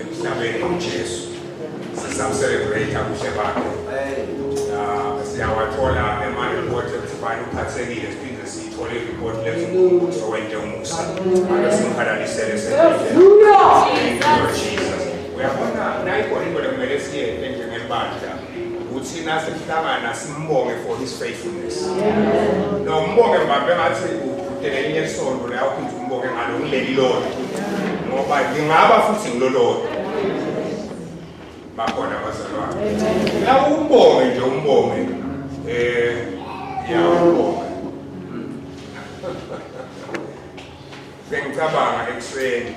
emhlabeni uJesu sizamcelebrate ubuhle bakhe ah, siyawathola ema-report ekubani uphathekile siphinde siyithole ireport lethi owente umusa ake simhalalisele sendlela uyabona nayikona into lekumele siyente njengebandla ukuthi nasihlangana simbonge for his faithfulness no mbonge mbambe ngathi udele elinye isonto la uphinde umbonge ngalo ngileli lodwa ngoba ngingaba futhi ngilolodwa bakhona abazalwane la umbonge nje umbonge eh yawubonga bengicabanga ekuseni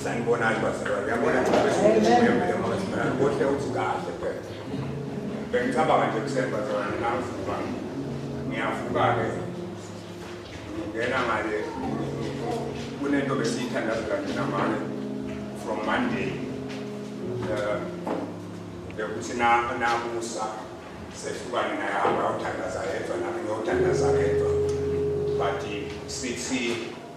Sanibonani bazalwane, yabona cha bese ngishimile mama Simela, kuhle uthi kahle phela. Bengicabanga nje kusemba bazalwane ngavuka. Ngiyavuka ke. Ngena ngale kunento besiyithandaza kanje namane from Monday. Eh, Bekuthi na namusa sehlukane naye hamba uthandaza yedwa nami ngiyothandaza yedwa. But sithi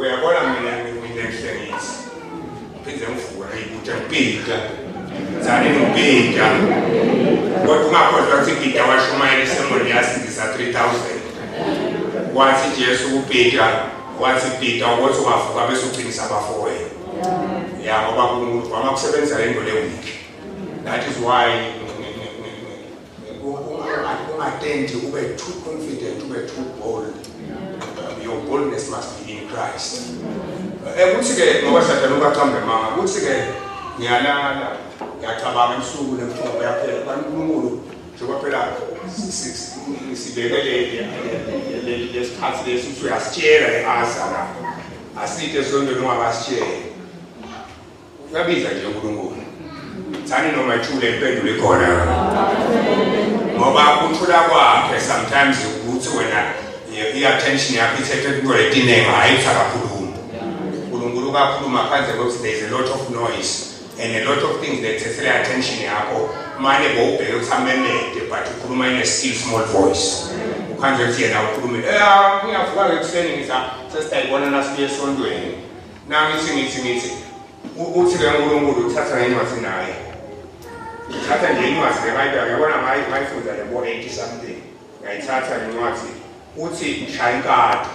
uyabona mina mina ngihlengisi phinde ngivuka ngiyibutha ngipita zane ngipita kodwa ungakhohlwa ukuthi ipita washumayela isemoni yasindisa 3000 wathi jesu kupita wathi pita ukuthi ungavuka bese uqinisa abafowenu ya ngoba unkulunkulu wama kusebenzela into lewiki that is why ungatenti ube too confident ube too bold your boldness must be in christ eh, ukuthi-ke ngoba sathana ubacambe manga ukuthi-ke ngiyalala ngiyacabanga ebusuku nemthombo yaphela kanti unkulunkulu njengoba phela sibekelele lesikhathi lesi ukuthi uyasitshela e-asa la aside esontweni ungakasitsheli Uyabiza nje uNkulunkulu. Thani noma ithule impendulo ikhona. Ngoba ukuthula kwakhe sometimes ukuthi wena i-attention yakho ithethe kuyo letinenga hayi usakakhuluma. uNkulunkulu ukakhuluma phandle kokuthi there is a lot of noise and a lot of things that thethe attention yakho manje bowubheke ukuthi amemede but ukhuluma in a still small voice. Ukhanjwe ukuthi yena ukhulume. Eh uyavuka ekuseni ngisa sesiyibona nasibuye esontweni. Nami ngithi ngithi ngithi uthi ke uNkulunkulu uthatha ngencwadi naye. Uthatha nje incwadi leBhayibheli uyabona mayi mayifunda le bo 80 something. Ngayithatha incwadi uthi shaya inkatha.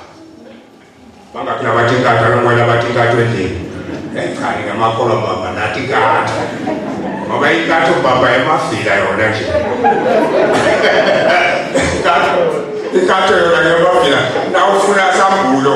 Bangaphi abathi inkatha lokwela abathi inkatha endlini. Ekhani ngamakholwa baba nathi inkatha. Ngoba inkatha ubaba emafika yona nje. Inkatha inkatha yona ngemafika. Nawufuna sambulo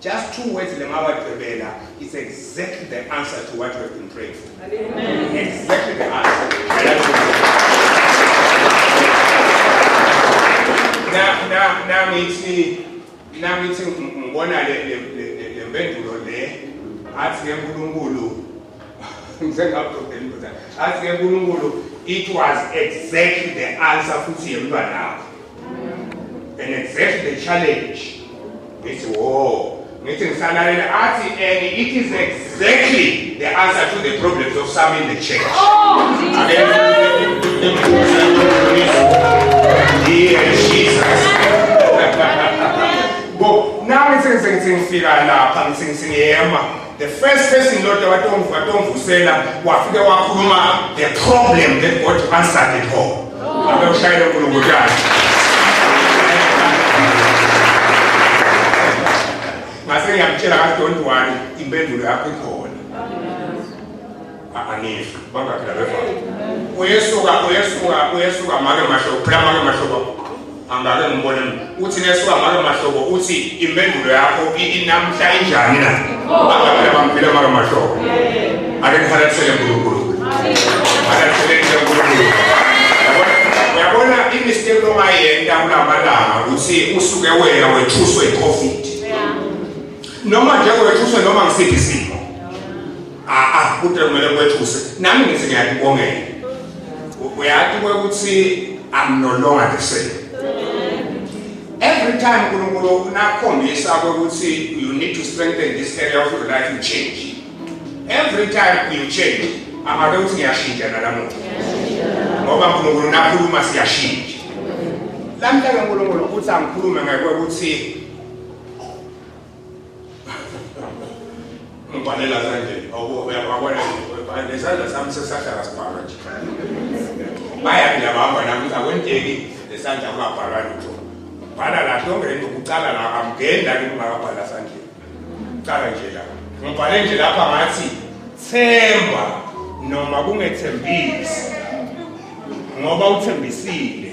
Just two words lemawagqibela is exactly the answer to what we have been praying for. Amen. Exactly the answer. Now, now, now, ngithi now ngithi ngibona le le le mpendulo le athi ke uNkulunkulu athi ke nkulunkulu it was exactly the answer futhi yemntwanakho and exactly the challenge ngithi wo ngithi ngisalalela athi and it is exactly the answer to the problems of some in the church oh, nami sengisengifika lapha ngisengiyema The first person Lord watomvu watomvusela wafike wakhuluma the problem that God answered it all. Abe ushayele uNkulunkulu yakhe. Ngase ngiyamtshela ka don't worry impendulo yakho ikhona. anizwi bangakhi labeva uyesuka uyesuka uyesuka make mahlobo phela make mahlobo angake ngimbone uthi nesuka make mahlobo uthi impendulo yakho inamhla injani na angaphela bamphile make mahlobo ake ngihalathele nkulunkulu halathele nkulunkulu uyabona imistake lomayenza kulamalanga ukuthi usuke wena wethuswe i-covid noma nje wethuswe noma ngisiphi isimo aa kude kumele kwethuse nami ngithi ngiyakubongela uyati kwekuthi i'm no longer the same every time unkulunkulu nakhombisa kwekuthi you need to strengthen this area of your life you change every time you change amake ukuthi ngiyashintsha nalamuntu ngoba unkulunkulu nakhuluma siyashintsha lamhlanje unkulunkulu uthi angikhulume ngekwekuthi ngibhalela kanje awuyakwabona nesandla sami sesahlala sibhalwa nje baya ngiyabamba nami ukuthi akwenteki nesandla kungabhalwa lutho bhala la lonke lento kucala la amngeni la ngingakabhala sandleni kucala nje la ngibhale nje lapha ngathi themba noma kungethembisi ngoba uthembisile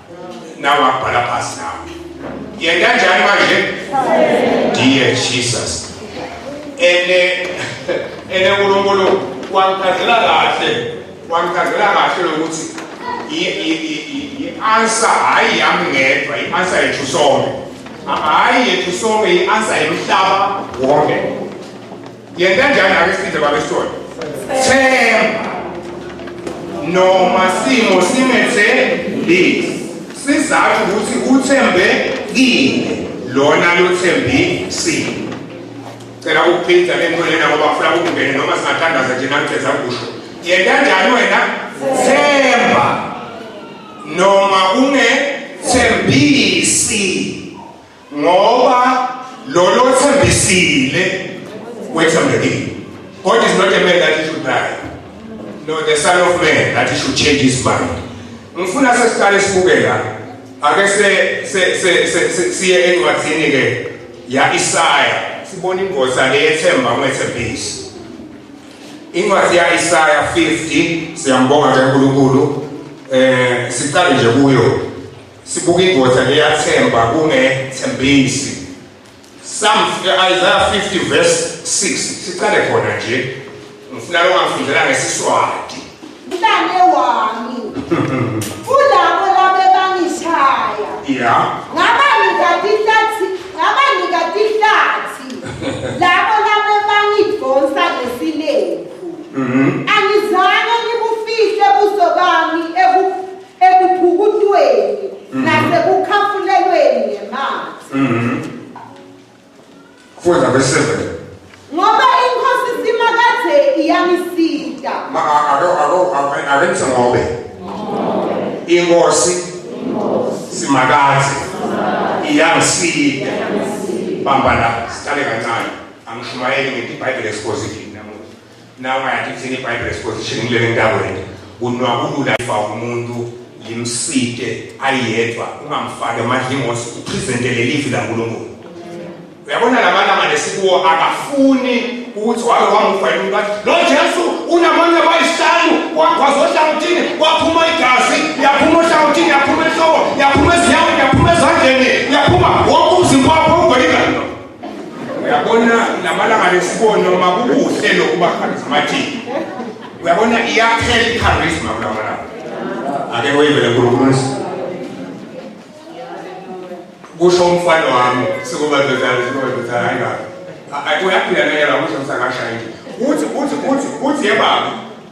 nawe akubhala phasi nawe yena kanjani manje dear jesus ene ene uNkulunkulu wangikhandela kahle wangikhandela kahle lokuthi i-answer hayi yami ngedwa i-answer yethu sonke hayi yethu sonke i-answer yomhlaba wonke Yena njani abesidle babesona. Themba. Noma simo simethe lezi. Sizathu ukuthi uthembe kini lona lothembi sini. Cela ukuphinda lento lena ngoba ufuna ukungena noma singathandaza nje nathi ezakusho. Yena njani wena? Themba. Noma unge thembisi. ngoba lolo othembisile wethembekile God is not a man that he should lie no the son of man that he should change his mind ngifuna sesiqale sibuke la ake se siye encwadzini ke ya Isaya sibona ingozi aleyethemba umethembisi incwadi ya Isaya 50 siyambonga ke uNkulunkulu eh siqale nje kuyo Sibuka indoda leyathemba kungethembisi. Psalm eh, Isaiah 50 verse 6 siqale khona nje. Ngifuna lo ngafundela ngesiswati. Mntane wami. Ulabo labe bangishaya. Yeah. Ngaba ngikatihlathi, ngaba ngikatihlathi. Labo labe bangidonsa ngesilembu. Mhm. Angizange ngibufihle buso bami ebu ekuphukutweni Mhm. nasekukhafulelweni ngemanzi Mhm. Funda verse 7. ngoba inkosi simakade iyangisita Ma a- ake ake ake- ake ngithi ngobe. Inkosi simakazi iyangisida. Bamba la, siqale kancane. Angishumayeli ngithi iBhayibheli exposition. Nawe ngathi kuthini iBible exposition kulele ntakwethu kunwakulula ifa umuntu limsike ayedwa ungamfaki amadlingosi upresentele livi laNkulunkulu uyabona labana manje sikuwo akafuni ukuthi wabe wamufa yini umuntu athi lo Jesu unamanye abayisihlanu wagwaza ohlangothini waphuma igazi yaphuma ohlangothini yaphuma enhloko yaphuma ezinyaweni yaphuma ezandleni yaphuma wonke umzimba wakho ugwelika uyabona lamalanga lesibona uma kukuhle lokuba charismatic uyabona iyaphela icharisma kulamalanga ake weyivele nkulunkulu kusho umfana wami sikuba ndoda sikuba ndoda hayi kabi uyaphila nayela kusho ngisakashayile uthi uthi uthi uthi yebaba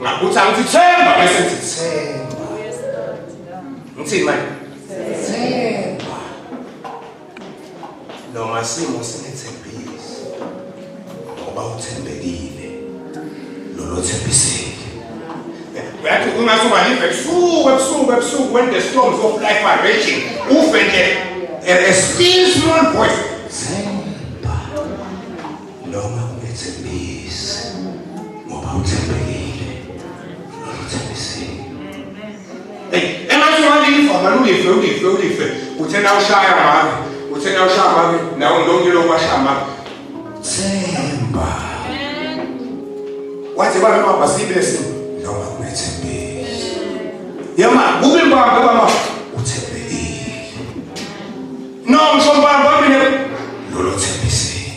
Ngakuthi angithemba bese ngithemba. Ngithini manje? Themba. Noma simo sinethembisi. Ngoba uthembekile. Lolo thembisile. Uyathi ungathi ungalive ebusuku ebusuku ebusuku when the storms of life are raging. Ufe nje. A still small voice. Themba. noma ungethembisi ngoba uthembekile uthembisile engathi walifa malulife ulife ulife uthe na ushaya mami uthe na ushaya mami nawo nonke lo kwashaya mami themba wathi bana mama sibese noma ungethembisi yama kube mbamba mama uthembekile no mshomba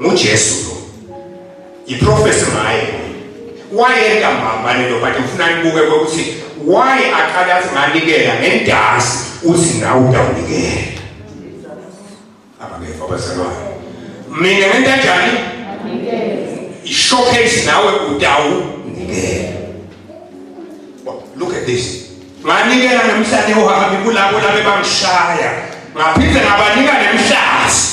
nguJesu lo iprofesi ngaye wayenda mbambane lo but ngifuna nibuke ukuthi why aqale athi nganikela ngendasi uthi nawe utawunikela abangeva abazalwane mina ngento enjani ishowcase nawe utawunikela look at this nganikela namhlanje uhambi kulabo labe bangishaya ngaphinde ngabanika nemhlazi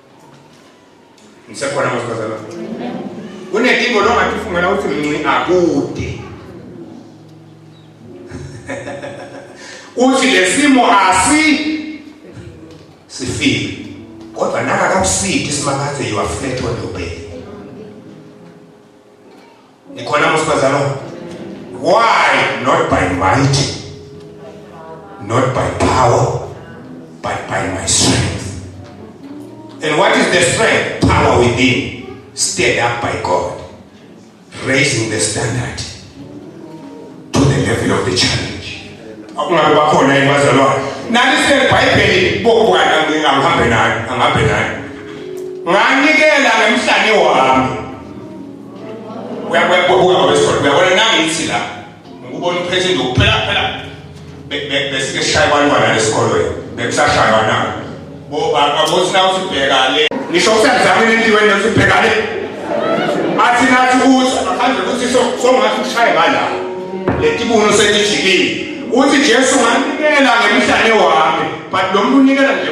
Ngisekhona ngosibazana. Kunedingo longathi ufungela ukuthi mnci akude. Uthi lesimo asi sifike. Kodwa naka kakusidi simakathe you are flat on your bed. Nikhona mosibazalo. Why not by might? Not by power, but by my strength. And what is the strength? Power within, stirred up by God, raising the standard to the level of the challenge. Akungabe bakhona yini bazalwane? Nani sebhayibheli bokwana ngingahambe nani, angahambe nani. Nganikela ngemhlane wami. uyakuyakubuka wesifo uyabona nangithi la ngikubona uphethe nje ukuphela phela besike shaya abantwana lesikolweni bekusashaywa na bo ababothi na usibheka le ngisho kusenzama inendiwe nje usibheka le athi nathi ukuthi akhambe ukuthi songathi ushaye ngala letibuno setijikile uthi Jesu nganikela ngemhlane wami but lo muntu unikela nje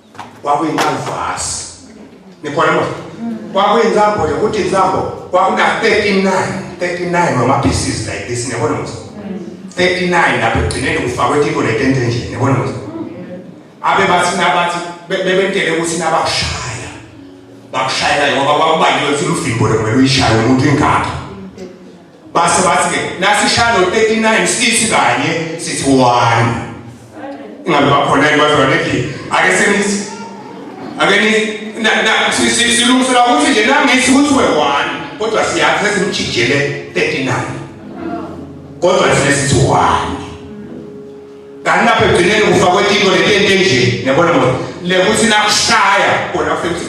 kwakuyincanvasi nikhona mos kwakuyinsambo nje ukuthi insambo kwakuna 39 39 wama pieces like this niyabona mos 39 lapho egcineni kufakwe tiko letente nje niyabona mos abe bathi nabathi bebentele ukuthi nabashaya bakushayela ngoba kwakubaliwe ukuthi luvimbo lekumele uyishaye umuntu ingakho base bathi ke nasishalo 39 sithi kanye sithi 1 ingabe bakhona ibazwa nethi ake senithi ake ni na na silungisela ukuthi nje nangithi ukuthi we 1 kodwa siyakhe simjijele 39 kodwa sinesithi 1 kanti lapho egcineni kufakwe into lento enje nebona ngoba lekuthi nakushaya kona futhi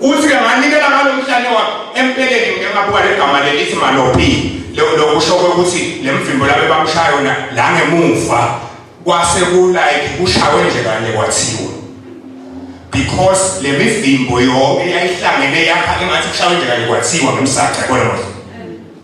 uthi ke nganikela ngalomhlane wakhe empeleni ngike ngabuka legama lelithi malopi lokusho kwekuthi le mvimbo labe bamshaya yona la ngemuva kwase kulike kushawe nje kanye kwathiwa because le mivimbo yonke yayihlangene yakha engathi kushawe nje kanye kwathiwa ngomsaca kodwa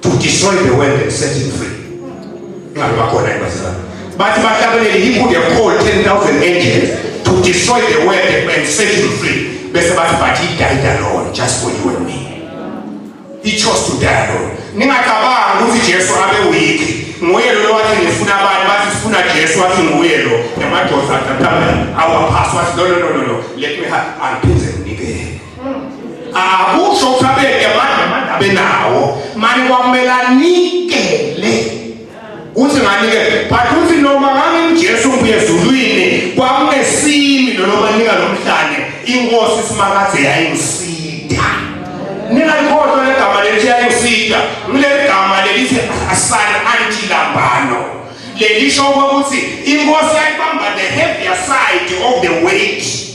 to destroy the world and set it free ngabe bakhona ibazalwane bathi bahlabelele inkulu yakukhol 10000 angels to destroy the world and set it free bese bathi but he died alone just for you and me he chose to die alone ningacabangi ukuthi jesu abe weak nguye lo wathi ngifuna abantu bathi sifuna jesu wathi nguye lo emadoda athathamela awaphasi wathi no no no no let me have angiphinde nginikele akusho ukuthi abeke manje manje abenawo manje kwakumele anikele uthi nganikele but uthi noma nganginjesu ngibuye ezulwini kwakungesimi lolo banika lo mhlane inkosi isimakade yayingisida ningalikhohlwa legama lelithi yayingisida ngileli gama lelithi asani antilambano lelisho ukuthi inkosi yayibamba the heavier side of the weight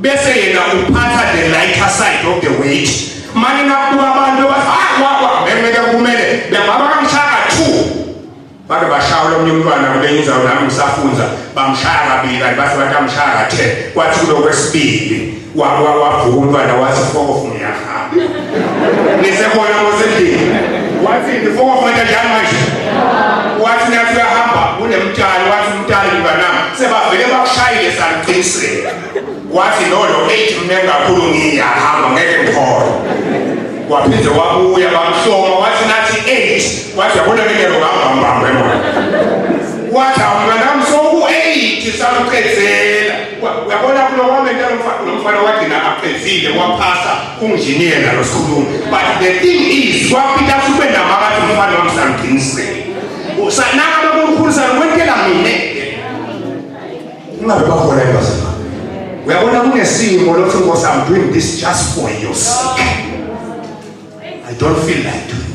bese yena uphatha the lighter side of the weight manje nakuba abantu bathi hayi wakwa bengeke kumele bengaba kamshaka two bake bashawula omunye umntwana kule inzawo nami ngisafunza bamshaya kabili kanti bathi bathi amshaya kathe kwathi kulokwesibili wavuka umntwana wathi fokofunga ngisekhona ngosendlini wathi before wafuneka njani manje wathi nathi uyahamba kunemtshali wathi umtshali mnganami sebavele bakushayile saliqiniseka wathi lolo eight mne kakhulu ngiyahamba ngeke ngikhona waphinde wabuya bamhloma wathi nathi eight wathi yabona ngingelo ngambambambe mona wathi awumnganami soku-eight sakuqedzela uyabona kulo kwamenta lo mfana wagcina aqedile waphasa unjiniyela lo sikhulumi but the thing is wapita sube nabo abathi umfana wami samqinisele naka bakumkhulisa kwentela mina ungabe bakhona ebazima uyabona kunesimo lothi nkosi i'm doing this just for your sake i don't feel like doing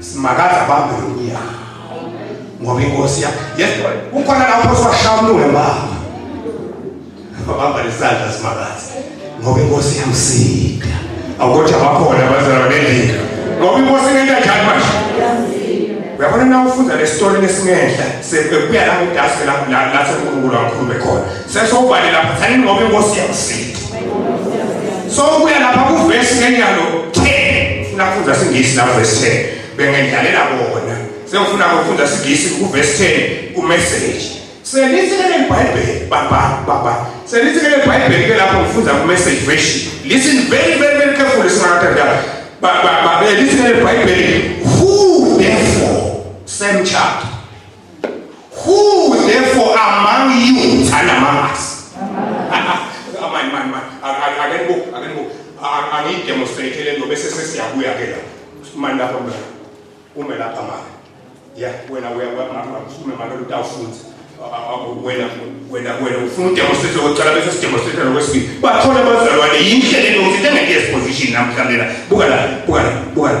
Simakaza bambe lomnyango. Ngoba inkosi ya. Yes, kukhona lapho sashamlule baba. Baba lesandla simakaza. Ngoba inkosi yamsika. Awukothi abakhona abazalwa nendlela. Ngoba inkosi ngeke kanjani manje? Uyabona na ufunda le story lesingenhla sekuya la ngidase la la la sekunkulu kakhulu bekhona. Sesokubale lapha thanini ngoba inkosi yakusinda. So kuya lapha ku verse ngenyalo 10 nafunza singisi la verse 10 bengendlalela bona. Sengifuna ukufunda singisi ku verse 10 ku message. Selisekele iBhayibheli baba baba. Selisekele iBhayibheli ke lapho ngifunda ku message version. Listen very very very carefully singathatha. Baba baba listen iBhayibheli who therefore same chapter Who therefore among you and among us? Amani mani mani ake nibuke ake nibuke angiyidemonstrate le nto bese sesiyabuya ke lapho mani lapha mna ume lapha mani ya wena usukume mani utawufunza wena wena wena ufuna udemonstrate lokucala bese sidemonstrate lokwesibili bathole abazalwane yindlela enokuthi engeke yesiposition namhlanje la buka la buka la buka la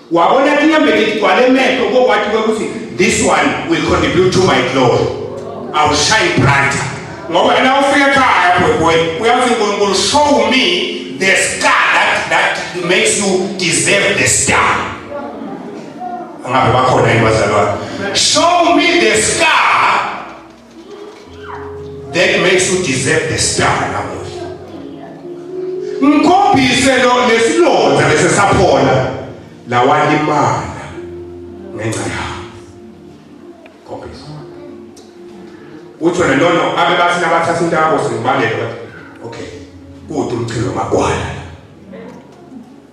wabona tinyembeti tigcwale emehlo kokwathi kwekuthi this one will contribute to my glory awushayi brighter ngoba na ufika ekhaya bhwebhwe uyazi unkulunkulu show me the star that, that makes you deserve the star angabe bakhona yini bazalwane show me the star That makes you deserve the star namuhla. Ngikhombise lo lesilonda bese saphola lawalimala ngenxa yakho. Khombisa. Uthi wena lona abe bathi nabathatha into yakho singibaleka. Okay. Kude umchilo magwala.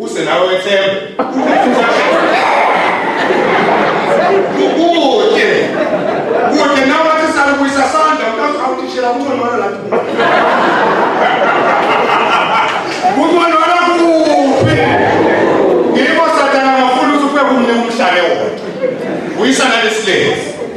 Use nawe wethembe. Kude. Kude nawe wathi salubuyisa sandla ukazi awutishela kuthiwa lona lapho. Kuthiwa lona kuphi? Ngikho sathana ngafuna ukuthi ufike kumnike umhlale wodwa. Buyisa nalesilezi.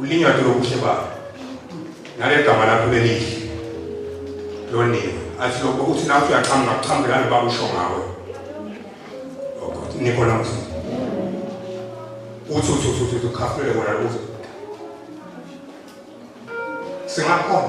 Ulinywa ke ubuhle bakho. Ngale gama lakho lelihle. Loniwe. Athi lokho uthi nawe uyaqhamuka kuqhamuke lalo baba usho ngawe. Oh God, nikhona mfo. Uthi uthi uthi uthi ukhafulele wona uthi. Singakhona.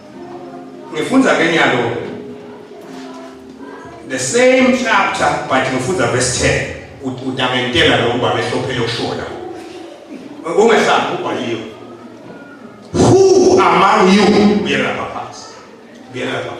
Ngifunza ke nyalo the same chapter but ngifunza verse 10 utangentela lo ngoba behlophele ukushola. Ungehlanga ubhaliwe. Who among you uyela phansi. Uyela phansi.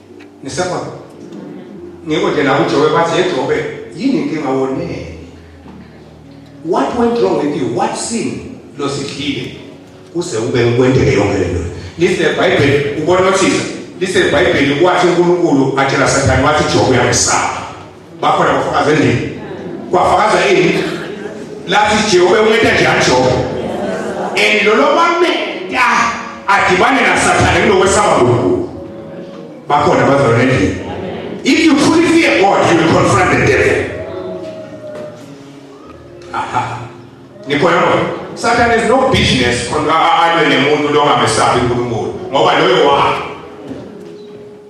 ngisabona ngiko nje la uJobe bathi yeJobe yini inkinga wonene what went wrong with you what sin losidlile kuze ube ukwenteke yonke lento lise bible ubona uthisa lise bible kwathi uNkulunkulu atshela sathane wathi jobe uyamsaba bakhona bafakaza endlini kwafakaza ini lathi jehova unceda nje ajobe and lolo mamenta adibane nasathane kunokwesaba kunkulu bakhona bazalwa nendlini if you truly fear god you will confront the devil aha nikhona sathane is no business alwe nemuntu longamesabi unkulunkulu ngoba loyo wakhe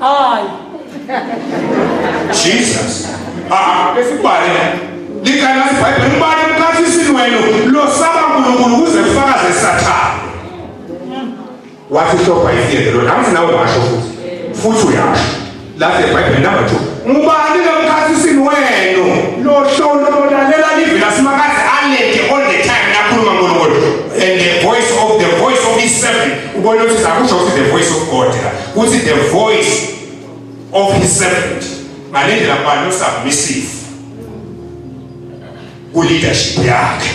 Hayi. Jesus. Ah, besibhale. Likana iBhayibheli ubani mkhathi isinwelo lo saba uNkulunkulu kuze kufakaze sathana. Wathi hloba ifiyele lo nathi nawe washo futhi. Futhi uyasho. Lathi iBhayibheli number 2. Ngubani lo mkhathi isinwelo lo shona olalela livi lasimakazi alete all the time nakhuluma ngoNkulunkulu and the voice of the voice of his servant. Ubona ukuthi akusho ukuthi the voice of God. kuthi the voice of his servant ngalendlela kubani usubmissive ku leadership yakhe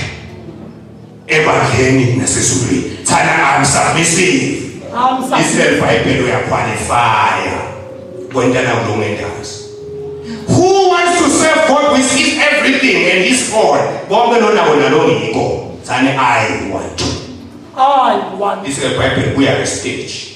ebandleni nasezulwini thana i'm submissive isel bible uya qualify kwentana kulungendazi who wants to serve god with his everything and his all bonke lona wona lo ngikho thana i want to i want isel bible uya stage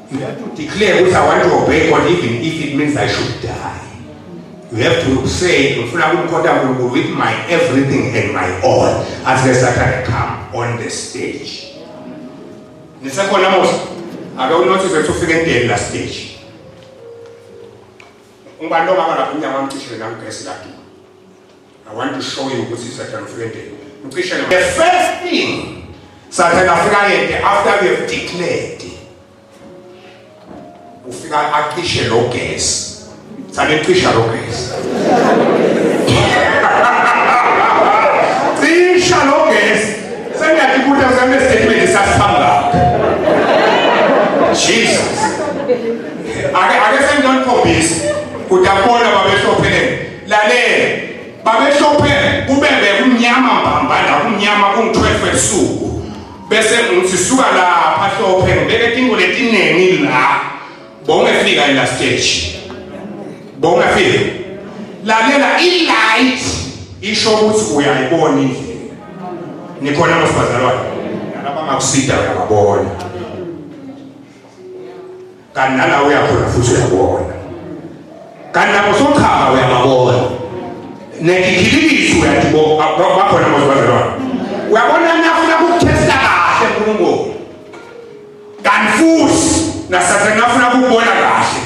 You have to declare ukuthi I want to obey God even if it means I should die. You have to say ngifuna ukumkhonta uNkulunkulu with my everything and my all. Asike Satan come on the stage. Nisekhona mose. Ake unothise ukuthi ufike endeni la stage. Ungubani lo mama lapho unyama amcishile namgesi lakini. I want to show you ukuthi Satan ufike endeni. Ucishe The first thing Satan afika yende after we have declared. Ufika acishe lo gas. Sale cisha lo gas. Cisha lo gas. Sengathi kuthi usambe statement sasihamba. Jesus. Ake ake sengidonphombisa. Kudabona babehlophele lalela babehlophe kubebe kumnyama mbambanda kumnyama kungu-12 ebusuku bese ngithi suka lapha hlophe ngibeke tingo letiningi la bowungefika ila stage bowungefika lalela i-light isho ukuthi uyayibona indlela nikhona masibazalwane nalabangakusida uyababona kanti nala uyakhona futhi uyabona kanti lapho sochaba uyababona nekikhililisi uyadibona bakhona mozibazalwane uyabona nafuna kukuthesta kahle nkulunkulu kanti futhi nasatana afuna kukubona kahle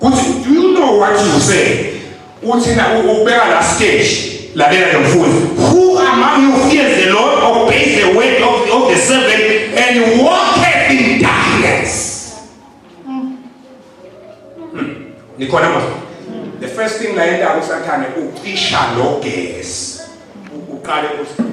kuthi do you know what you say Uthi na ubeka la stage lalela ke mfuzi. Who among you fears the Lord obeys the word of, of the servant and walketh in darkness? Hmm. Nikhona manje. The first thing la yenda usathane ucisha lo gesi. Uqale uthi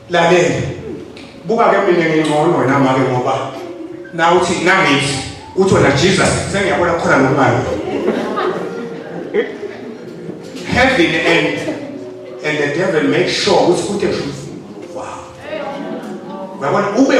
lalela buka ke mina ngingcono wena make ngoba na uthi nangithi uthi wena jesus sengiyabona khona nokumayo heaven and and the devil make sure ukuthi kute truth wow uyabona ube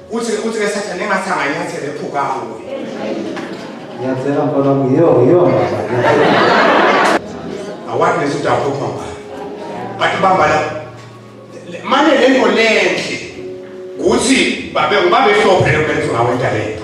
Uthi uthi ke sathane engathi anganyathela ephuka kuwe. Ngiyathela mfana wami yiyo yiyo baba. Awani nesi udawu phupha mba. Bathi bamba la. Manje lento lenhle ukuthi babe ubabe hlophe lokwenza ngawe intalento.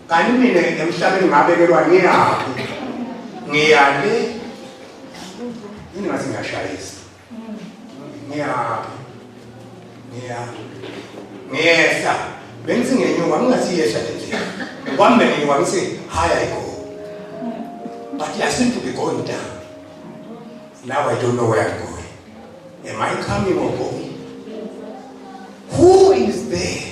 Kanti mina emhlabeni ngabekelwa ngiyaphi? Ngiyale. Yini ngathi ngiyashayisa? Ngiyaphi? Ngiyaphi? Ngiyehla. Bengithi ngenyuka ngingathi yehla le ndlela. Kwambe nginyuka ngithi high I go. But I seem to be going down. Now I don't know where I'm going. Am I coming or going? Who is there?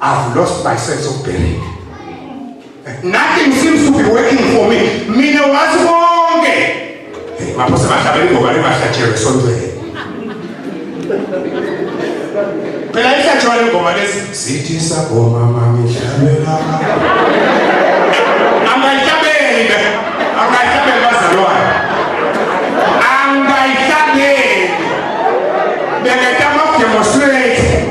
I've lost my sense of bearing. Nothing seems to be working for me. Mina wazi bonke. Hey, maphose bahlabele ngoba libahlatshelwe sontweni. Phela ihlatshwa lengoma lesi sithi sagoma mami hlabela. Angahlabeli be. Angahlabeli bazalwane. Angahlabeli. Bengeta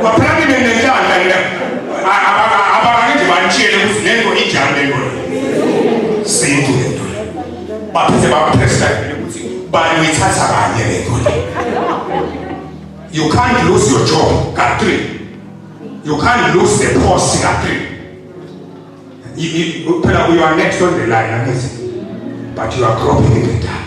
Kwaphela mina nenhlanhla mina. Abakake nje banitshiyele ukuthi lento injani lento. Sintu lento. Baphethe bapressa ukuthi bani uyithatha kanye lento. You can't lose your job, Katri. You can't lose the post, Katri. Phela you are next on the line, angithi? But you are groping in the dark.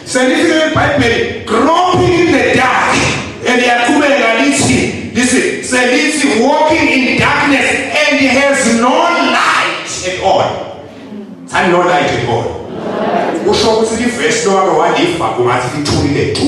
Sendifike eBhayibheli groping in the dark and yaqhubeka lithi lithi selithi walking in darkness and has no light at all. Thani no light at all. Usho ukuthi liverse lowake waliva kungathi lithulile tu.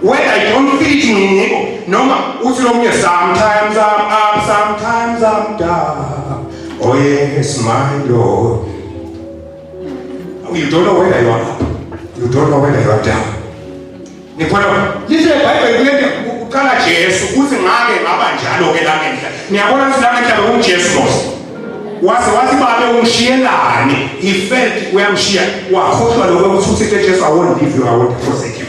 Whether you don't feel it nginiko noma uthi lomunye sometimes I'm up sometimes I'm down. Oh yes my Lord. You don't know whether you are up. You don't know whether you are down. Nikhona lishe iBhayibheli kulento uqala Jesu uthi ngake ngaba njalo ke la ngenhla. Niyabona ukuthi la ngenhla bekunguJesu Mose. Waze wathi babe umshiyelani he felt uyamshiya wakhohlwa lokho ukuthi uthixo ejesu i won't leave you i won't forsake you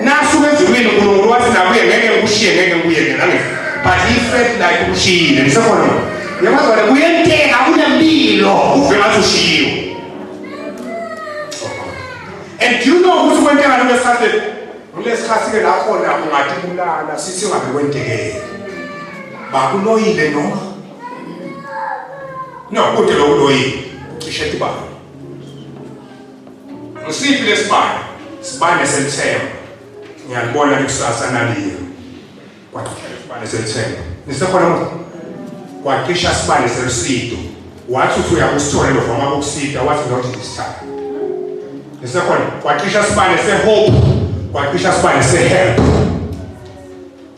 nasuke ezulwini unkulunkulu wathi nakuye ngeke ngikushiye ngeke ngikuyeke nange but he felt like umshiyile ngisekhona yabazwane kuyenteka kunempilo uve ngathi ushiyiwe and do you know ukuthi kwenteka nto esatheni kulesikhathi-ke lakhona ungathi kulala sithi ungabe kwentekele bakuloyile noma No, kude lokhu loyini. Ucishe ibanga. Ngisiphi lesibanga? Sibane selithemba. Ngiyalibona likusasa naliyo. Kwacisha isibane selithemba. Nisekhona manje? Kwacisha isibane selusido. Wathi uthi uyakusithola lokho uma kukusida wathi not this time. Nisekhona? Kwacisha isibane sehope. Kwacisha isibane sehelp.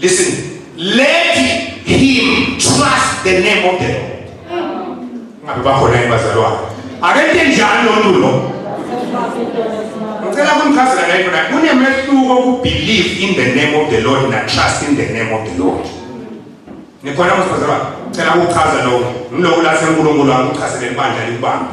Listen, let him trust the name of the Lord. Ngabe bakhona yini bazalwane? Akente njani lo ntu lo? Ngicela kumchazela naye khona kunemehluko ku believe in the name of the Lord na trust in the name of the Lord. Nikhona mfazalwane? Ngicela ukuchaza lokho. Ngilokhu la seNkulunkulu angichazele ibandla likubambe.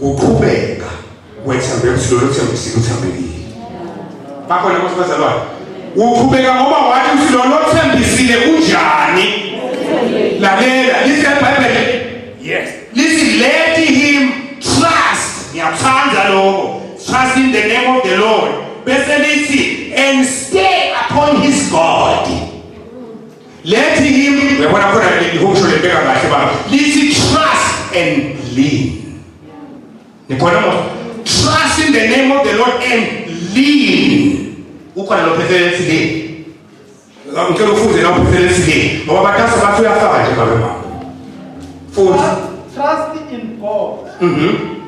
kuqhubeka wethembe ukuthi lolo thembisile uthembekile bakhona ukuthi bazalwane uqhubeka ngoba wathi ukuthi lolo thembisile unjani lalela lithi ebhayibheli yes lithi let him trust ngiyakuthanda lokho trust in the name of the lord bese lithi and stay upon his god Let him uyabona khona lihosho lebeka kahle baba lithi trust and lean nikhona mo trust in the name of the lord and lean ukhona lo phethelensi le ngicela ufunde na uphethelensi le ngoba batasa bathi uyafaka nje babe mama futhi trust in god mhm mm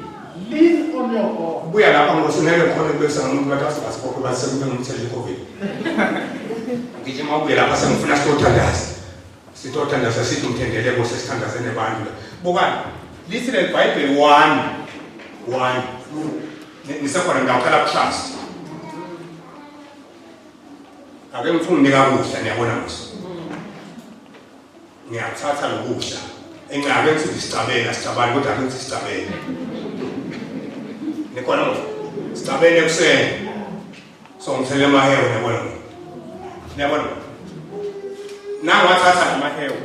Lean on your God. Buya lapha ngoba singeke ngikhole kubekisa nomuntu bathi azoba sibophe bathi sekube ngumthetho iCovid. Ngijima ubuye lapha sengifuna sitothandaza. Sitothandaza sithi umthendeleko sesithandaze nebantu la. Bukani, lithi leli Bible one. One. Ngisekhona ngawukhala kushasa. Ake ngifune unika kuhle niyabona mos. ngiyakuthatha lokudla engabe kuthi ngisicabela sicabani kodwa ake kuthi sicabele nikhona mfo sicabele ekuseni so ngithele amahewu niyabona niyabona nangiwathatha amahewu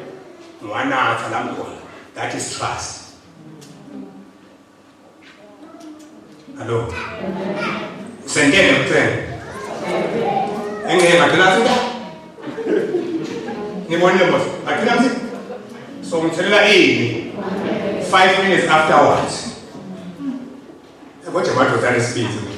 ngiwanatha la ngikhona that is trust Hello. Usengene kucela. Engeke ngagcina sida. Ngibonile boss. Agcina sida. So ngitholela ini. 5 minutes afterwards. Kodwa madoda nesibindi.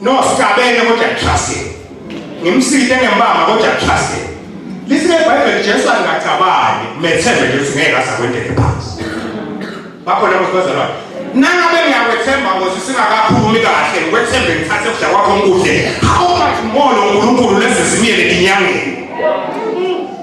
No sikabene kodwa trust him. Ngimside ngembamba kodwa trust him. Lise Bible Jesu angacabangi methembe nje ukuthi ngeke asakwendele phansi. Bakhona abantu bazalwa. Nangabe ngiyakwethemba ngoze singakaphumi kahle ngikwethembe ngithathe ukudla kwakho ngikudle. How much more lo Nkulunkulu lezi zimiyele inyangeni.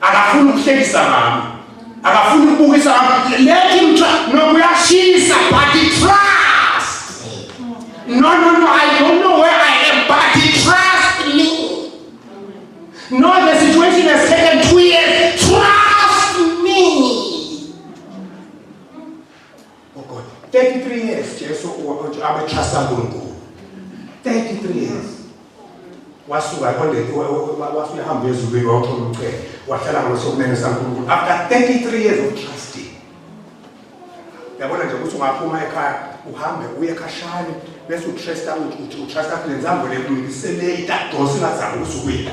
akafuni ukuhlekisa mama akafuni ukubukisa let him try no kuyashisa but he trust no no no i don't know where i am but he trust me no the situation has taken two years Oh God, 33 years Jesu abetrust uNkulunkulu. 33 years. Wasuka ekondeni wasuka ehamba ezulwini wawuthola umcebo. Wahlala ngosokumene saNkulunkulu after 33 years of trusting. Yabona nje ukuthi ungaphuma ekhaya uhambe uye ekhashane bese utrust ukuthi utrust ukuthi lenzambo lekulungisele itadonsi ngazama ukusukuyila.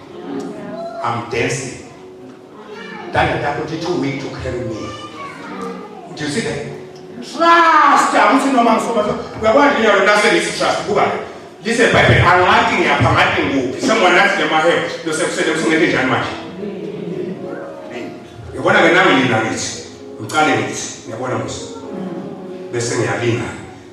I'm dancing. Dada takho ti too weak to carry me. Do you see that? Trust akuthi noma ngisoma uyakwazi ngiyawe nase ngisi trust kuba lise bible angathi ngiyapha ngathi ngikuphi someone asked them ahead lo sekusele kusingeke njani manje. Yabona ke nami nina ngithi ngiqale ngithi ngiyabona musa bese ngiyalinga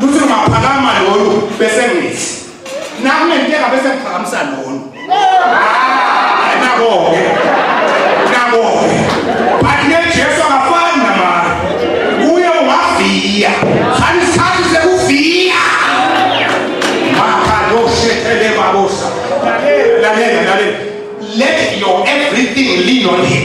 Luthi ungaphakama lolu bese ngithi. Nami ngenteka bese ngiphakamisa lolu. Ah, nako ke. Nako ke. But ne Jesu akafani namara. Uye ungaviya. Khani sikhathi sekuviya. Maka lo shetele babosa. Lalela, lalela. Let your everything lean on him.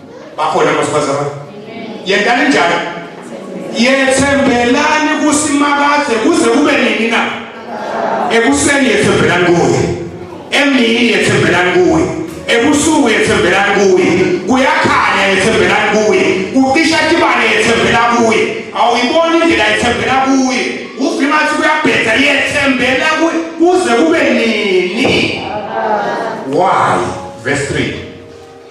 bakhona abasifazane yentani njalo yethembelani kusimakade kuze kube nini na ekuseni yethembelani kuye emini yethembelani kuye ebusuku yethembelani kuye kuyakhanya yethembelani kuye kucisha tibane yethembela kuye awuyiboni indlela yethembela kuye uvima athi kuyabheda yethembela kuye kuze kube nini why verse 3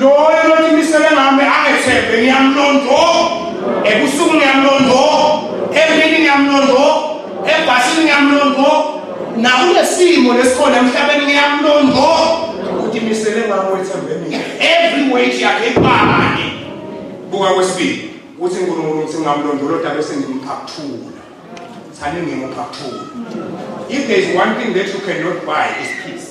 Loyo lothi imisele ngami angethembe ngiyamlondo. Ebusuku ngiyamlondo. Emini ngiyamlondo. Ebhasini ngiyamlondo. Nakulesimo lesikhona emhlabeni ngiyamlondo. Uthi imisele ngami wethembe mina. Every weight yakhe iphamane. Buka kwesibili. Uthi uNkulunkulu uthi ngamlondoloda bese ngimphathula. Sani ngimuphathula. If there is one thing that you cannot buy is peace.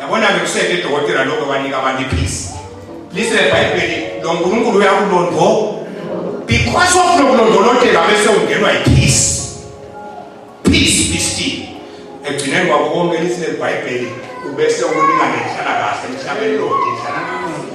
yabona ke kuseke dokotela lokho banika abantu iphisi lise bhayibheli lo nkulunkulu uyakulondvo because of lokulondolotela bese ungenwa yiphisi peace be still ekugcineni kwako konke lise bhayibheli ubese ukulingana inhlalakahle emhlabeni lonke inhlalakahle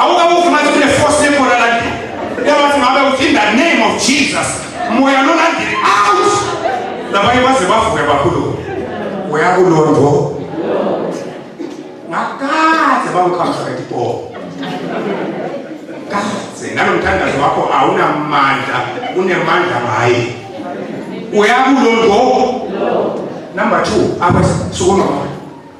awukabuzi manje kune force yebhola landi yabathi ngabe uthi in the name of jesus moya lolandile out labanye baze bavuke bakhulu uyakulondvo ngakadze bamkhamisa etibhola kadze nalomthandazo wakho awunamandla unemandla ngaye uyakulondvo number two apha sukuma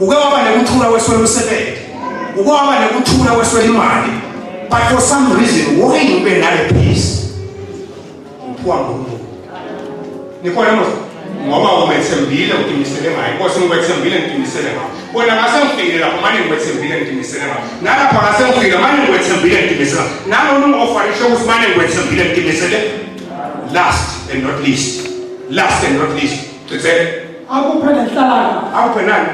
uke waba nekuthula weswela umsebenzi uke waba nekuthula weswela imali but for some reason why ube nale peace uphiwa ngunkulu nikhona mos ngoba umethembile uqinisele ngayo inkosi ngikwethembile ngiqinisele ngayo bona ngase ngifikile lapho manje ngikwethembile ngiqinisele ngayo nalapha ngase ngifikile manje ngikwethembile ngiqinisele ngayo nalona ungofanishe ukuthi manje ngikwethembile ngiqinisele last and not least last and not least Cisele. Akuphe nenhlangano. Akuphe nani?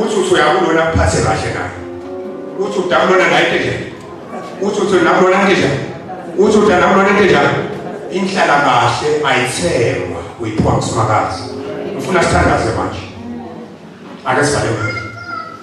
Uthi uthi uyakulona kuphathe kahle naye. Uthi udakulona naye into enjani? Uthi uthi nakulona into enjani? Uthi udakulona into enjani? Inhlala kahle ayithengwa uyiphiwa ngusimakazi. Ngifuna sithandaze manje. Ake sibale.